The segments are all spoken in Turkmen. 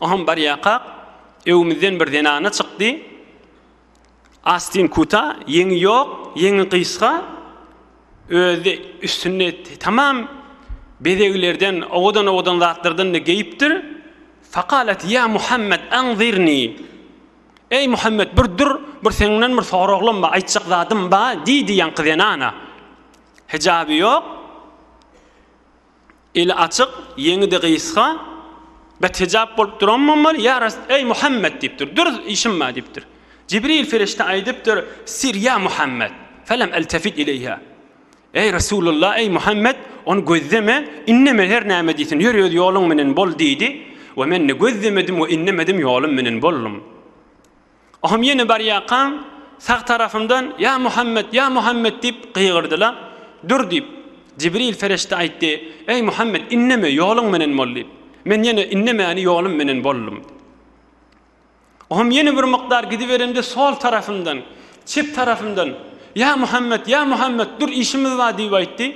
Oham barýakak, öwümizden bir zenana çykdy. Astin kuta, ýeňi ýok, ýeňi gysga, özi üstünde tamam bezeglerden, owadan-owadan zatlardan-da geýipdir. Fakalet, ýa Muhammet, anzirni! Eý, Muhammet, bir dur, bir seňňden bir soraglam bar, aýtjak zadym bar, diýdi ýaňky zenana. Hijaby ýok. Eli açyk, ýeňi-de gysga, bet hijap bolup duran bolmaly, Ýa Res, eý, Muhammet! diýipdir. Dürüst işim bar diýipdir. Jibril perişde aýdypdyr, Sir ýa Muhammet! Felem eltefit ileýhä. Eý, Resulullah, eý, Muhammet, ony gözleme, indeme, her näme diýsin, ýör öz ýoluň menen bol diýdi. We men ne gözlemedim we indemedim, ýolum menen boldum. Ohum ýene barýarkaň, sag tarapymdan, Ýa Muhammet, ýa Muhammet! diýip gygyrdylar. Dur! diýip, Jibril perişde aýtdy, Eý, Muhammet, indeme, ýoluň menen bol! diýip. Men ýene indemäni ýolum menen boldum. Ohum ýene bir mukdar gidiberemde sol tarapymdan, çep tarapymdan, Ýa Muhammet, ýa Muhammet, dur, işimiz bar! diýip aýtdy.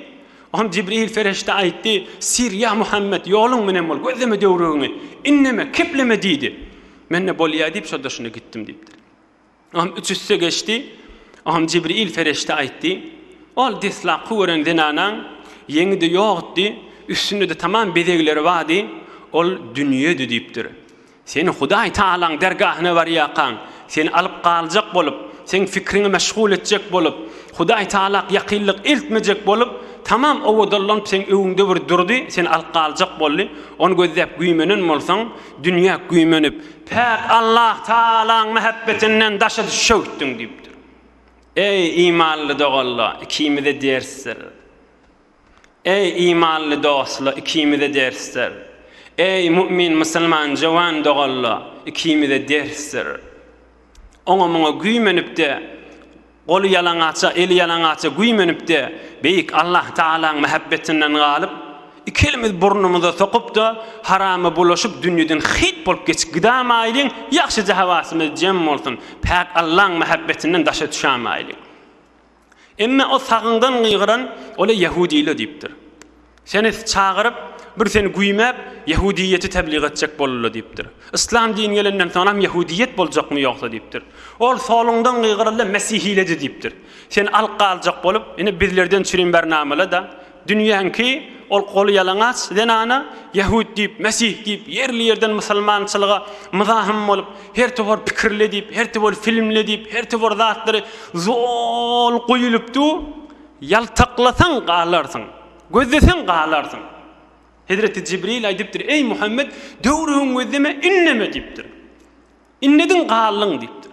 Ohum Jibril perişde aýtdy, Syr, ýa Muhammet, ýoluň menen bol, gözleme döwrügiňi, indeme, kepleme! diýdi. Men-de bolýa diýip şol daşyna gitdim diýipdir. Agam üç üste geçdi. Agam Jibril pereşde aýtdy. Ol deslapky gören zenanaň ýeňi-de ýokdy, üstünde-de tamam bezegleri bardy. Ol dünýedi diýipdir. Sen Hudaý Tagalaň dergahyna barýarkaň, seni alyp galjak bolup, seň fikriňi meşgul etjek bolup, Hudaý Tagalak ýakynlyk eltmejek bolup, tamam owadanlanyp seň öňüňde bir durdy, seni alyp galjak boldy. Ony gözläp güýmenen bolsaň, Dünýä güýmenip, päk Allah Tagalaň mähebbetinden daşa düşewtdiň diýipdir. Eý, imanly dogalla, ikimize ders ber. Eý, imanly dostla, ikimize ders ber. Eý, mu'min, musulman, jöwen dogalla, ikimize ders ber. oňa-muňa güýmenip-de, goly ýalaňaça, eli ýalaňaça güýmenip-de, beýik Allahtagalaň mähebbetinden galyp, iki elimizi burnumyza sokup-da, harama bulaşyp, dünýeden hyýt bolup geçip gidämaýlyň, ýagşyja hawasymyz jem bolsun, päk Allaň mähebbetinden daşa düşämaýlyň. Emma o sagyňdan gygyran ola ýahudile diýipdir. Seni çagyryp, bir seni güýmäp, ýahudiýeti tebliga etjek bolurlar diýipdir. Yslam dini gelenden soňam ýahudiýet boljakmy ýogsa diýipdir. Ol soluňdan gygyrylda mesihiledi diýipdir. Seni alyp galjak bolup, ine bizlerden çürim bernamala-da, Dünýäňki ol goly ýalaňaç zenana ýahut diýip, mesih diýip, ýerli-ýerden musulmançylyga myzahym bolup, her towar pikirle diýip, her towar filmle diýip, her towar zatlary zol guýulyp du, ýaltaklasaň galarsyň, gözleseň galarsyň. Hezreti Jibril aýdypdyr, Eý, Muhammet, döwrügiň gözleme, ünneme diýipdir. Ünnediň galdyň diýipdir.